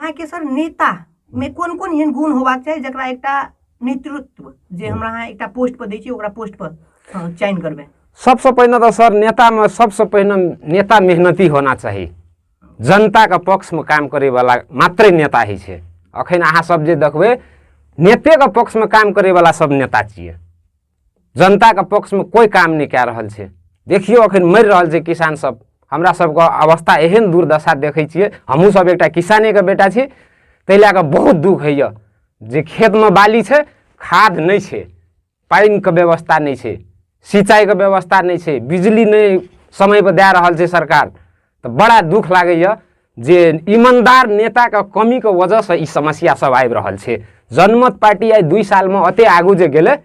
अहाँके सर नेता मे कोन कोन एहन गुण होबाक चाही जकरा एकटा नेतृत्व जे हमरा अहाँ एकटा पोस्ट पर दै छी ओकरा पोस्ट पर अ, चयन करबै सबसँ पहिने तऽ सर नेतामे सबसँ पहिने नेता मेहनती होना चाही जनताके पक्षमे काम करैवला मात्रै नेता होइ छै अखन अहाँ सब जे देखबै नेतेके पक्षमे काम करैवला सब नेता छियै जनताके पक्षमे कोइ काम नहि कए रहल छै देखियौ अखन मरि रहल छै किसान सब हमरा सबके अवस्था एहन दुर्दशा देखै छियै हमहूँ सब एकटा किसानेके बेटा छी ताहि लए कऽ बहुत दुख होइए जे खेतमे बाली छै खाद नहि छै पानिके व्यवस्था नहि छै सिंचाइके व्यवस्था नहि छै बिजली नहि समयपर दए रहल छै सरकार तऽ बड़ा दुख लागैए जे ईमानदार नेताके कमीके वजहसँ ई समस्या सब आबि रहल छै जनमत पार्टी आइ दुई सालमे एते आगू जे गेलै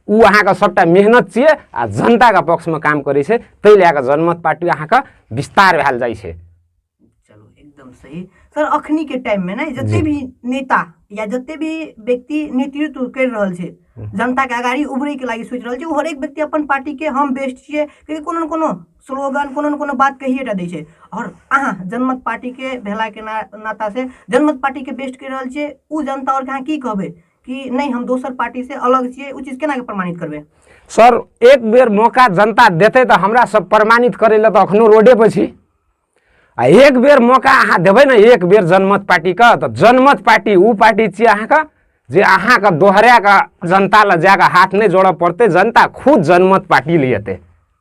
ओ अहाँके सभटा मेहनत छियै आ जनताके पक्षमे काम करै छै ताहि लए कऽ जनमत पार्टी अहाँके विस्तार भेल जाइ छै चलो एकदम सही सर अखनी के टाइम में ना जते भी नेता या जते भी व्यक्ति नेतृत्व कर रहल छै जनता के अगाड़ी उभरे के लागी सोच रहल छै ओ हरेक व्यक्ति अपन पार्टी के हम बेस्ट छियै कियाकि कोनो ने कोनो स्लोगन कोनो ने कोनो बात कहिए टा दै छै आओर अहाँ जनमत पार्टीके भेलाके ना नातासँ जनमत पार्टीके बेस्ट कहि रहल छियै ओ जनता आओरके अहाँ की कहबै कि नहि हम दोसर पार्टीसँ अलग छियै ओ चीज केनाके प्रमाणित करबै सर एक बेर मौका जनता देतै तऽ हमरा सब प्रमाणित करै लए तऽ अखनो रोडे पर छी आ एक बेर मौका अहाँ देबै ने एक बेर जनमत पार्टीके तऽ जनमत पार्टी ओ पार्टी छियै अहाँके जे अहाँके दोहराए कऽ जनता लए जाए कऽ हाथ नहि जोड़य पड़तै जनता खुद जनमत पार्टी लए एतै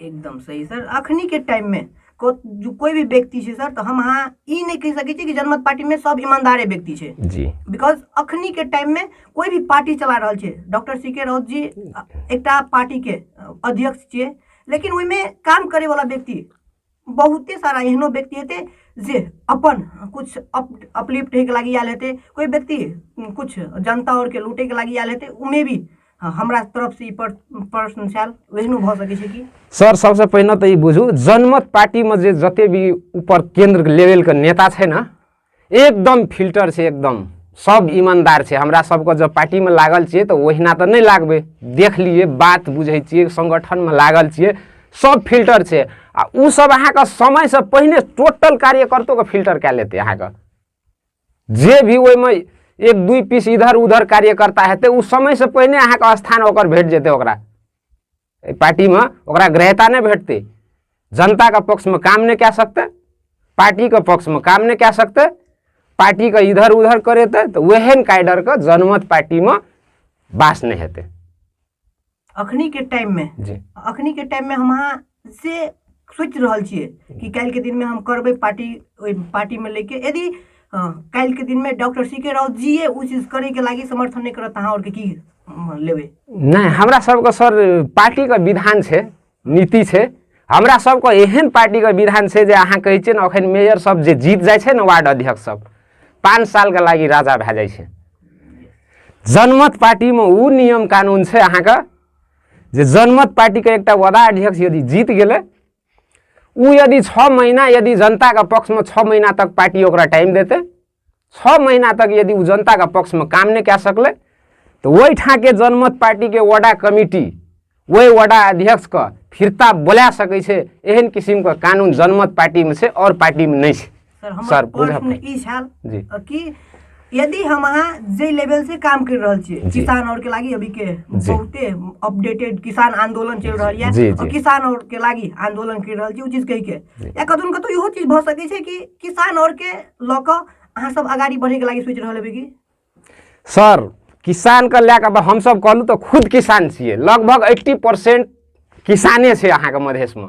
एकदम सही सर अखनी के टाइम में को जो कोई भी व्यक्ति छै सर तो हम अहाँ ई नहीं कह सके छी कि जनमत पार्टी में सब ईमानदारे व्यक्ति छै जी बिकॉज अखनी के टाइम में कोई भी पार्टी चला रहल छै doctor C K Raut ji अ, एकटा पार्टी के अ, अध्यक्ष छियै लेकिन ओहिमे काम करे वाला व्यक्ति बहुते सारा एहनो व्यक्ति हेतै जे अपन किछु अप अपलिफ्ट होइके लागि आयल हेतै कोइ व्यक्ति किछु जनता आओरके लूटैके लागि आयल हेतै ओमे भी हँ, हमरा तरफसँ ई प्रश्न छल ओहनो भऽ सकै छै कि सर सबसँ पहिने तऽ ई बुझू जनमत पार्टीमे जे जते भी ऊपर केन्द्र लेवलके नेता छै ने एकदम फिल्टर छै एकदम सब ईमानदार छै हमरा सबके जब पार्टीमे लागल छियै तऽ ओहिना तऽ नहि लागबै देख लिए बात बुझै छियै सङ्गठनमे लागल छियै सब फिल्टर छै आ ओ सब अहाँके समयसँ पहिने टोटल कार्यकर्तोके फिल्टर कए लेतै अहाँके जे भी ओहिमे एक दुई पीस इधर उधर कार्यकर्ता हेतै ओ समयसँ पहिने अहाँके स्थान ओकर भेट जेतै ओकरा एहि पार्टीमे ओकरा ग्रहता नहि भेटतै जनताके पक्षमे काम नहि कए सकतै पार्टीके पक्षमे काम नहि कए सकतै पार्टीके इधर उधर करेतै तऽ ओहन काइडरके जनमत पार्टीमे बास नहि हेतै अखनी के टाइम में जी अखनी के टाइम में हम अहाँ से सोचि रहल छियै कि काल्हि के दिन में हम करबै पार्टी ओहि पार्टी में लेके यदि हँ काल्हिके दिनमे doctor C K Raut ji ओ चीज करैके लागि समर्थन नहि करत अहाँ आओरके की लेबै नहि हमरा सबके सर पार्टीके विधान छै नीति छै हमरा सबके एहन पार्टीके विधान छै जे अहाँ कहै छियै ने एखन मेयर सब जे जीत जाइ छै ने वार्ड अध्यक्ष सब पाँच सालके लागि राजा भए जाइ छै जनमत पार्टीमे ओ नियम कानुन छै अहाँके जे जनमत पार्टीके एकटा वडा अध्यक्ष यदि जीत गेलै ऊ यदि छः महीना यदि जनता का पक्ष में छः महीना तक पार्टी ओकरा टाइम देते छः महीना तक यदि ऊ जनता का पक्ष में काम नहीं कह सकले तो वही ठा के जनमत पार्टी के वडा कमिटी वही वडा अध्यक्ष का फिरता बोला सके एहन किसिमको कानुन जनमत पार्टीमा छ अरू पार्टीमा नै छ सर हमर सर, बोलऽ प्रश्न अपने। ई छल जी कि यदि हम अहाँ जे लेवल से काम कर रहल छियै जी। किसान और के लागी अभी के जी। बहुते अपडेटेड किसान आंदोलन चल रहल जी, यऽ जी। और किसान और के लागी आंदोलन कर रहल छी ओ चीज कहि के जी। या कतौ ने कतौ इहो चीज भऽ सकै छै कि किसान और के लऽ कऽ अहाँ सब अगाड़ी बढ़े के लागी सोचि रहल हेबै कि सर किसानके लए कऽ आब हमसभ कहलहुँ तऽ खुद किसान छियै लगभग एट्टी परसेंट किसाने छै अहाँके मधेशमे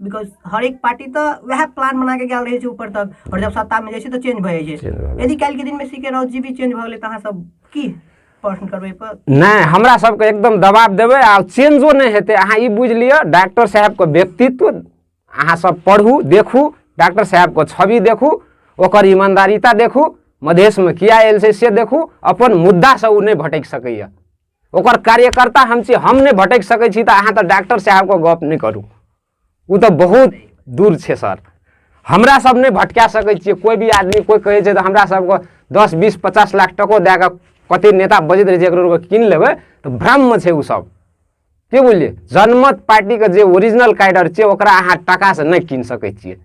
बिकॉज हर एक पार्टी तो वह प्लान बना के गया रहे ऊपर तक और जब सत्ता में जैसे तो चेंज भए जाए यदि कल के दिन में सीके राउत जी भी चेंज भए तो सब की नहीं हमरा सबके एकदम दबाब देवे आ चेंजो नहीं हेतु अहाँ ई बुझ लिअ डॉक्टर साहबके व्यक्तित्व अहाँ सब पढ़ू देखू डॉक्टर साहबके छवि देखू ओकर ईमानदारिता देखू मधेशमे किया आयल से देखू अपन मुद्दासँ ओ नहि भटकि सकैए ओकर कार्यकर्ता हम छी हम नहि भटक सकै छी तऽ अहाँ तऽ डॉक्टर साहबके गप नहि करू ओ तऽ बहुत दूर छै सर हमरा सब नहि भटका सकै छियै कोइ भी आदमी कोइ कहै छै तऽ हमरा सबके दस बीस पचास लाख टको दए कऽ कते नेता बजैत रहै छै एकरो कीन लेबै तऽ भ्रममे छै ओ सब के बुझलियै जनमत पार्टीके जे ओरिजिनल कैडर छै ओकरा अहाँ टाकासँ नहि कीन सकै छियै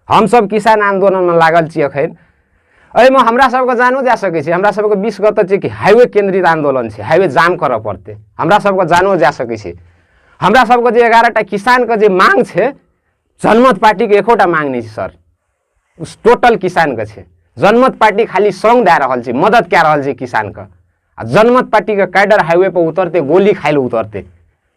हमसभ किसान आन्दोलनमे लागल छी एखन एहिमे हमरा सबके जानो जा सकै छै हमरा सबके विश्व कतऽ छै कि हाइवे केन्द्रित आन्दोलन छै हाइवे जाम करऽ पड़तै हमरा सबके जानो जा सकै छै हमरा सबके जे एगारहटा किसानके जे मांग छै जनमत पार्टीके एकोटा मांग नहि छै सर टोटल किसानके छै जनमत पार्टी खाली सङ्ग दए रहल छै मदद कए रहल छै किसानके आ जनमत पार्टीके कैडर हाइवे पर उतरते गोली खाइ लए उतरते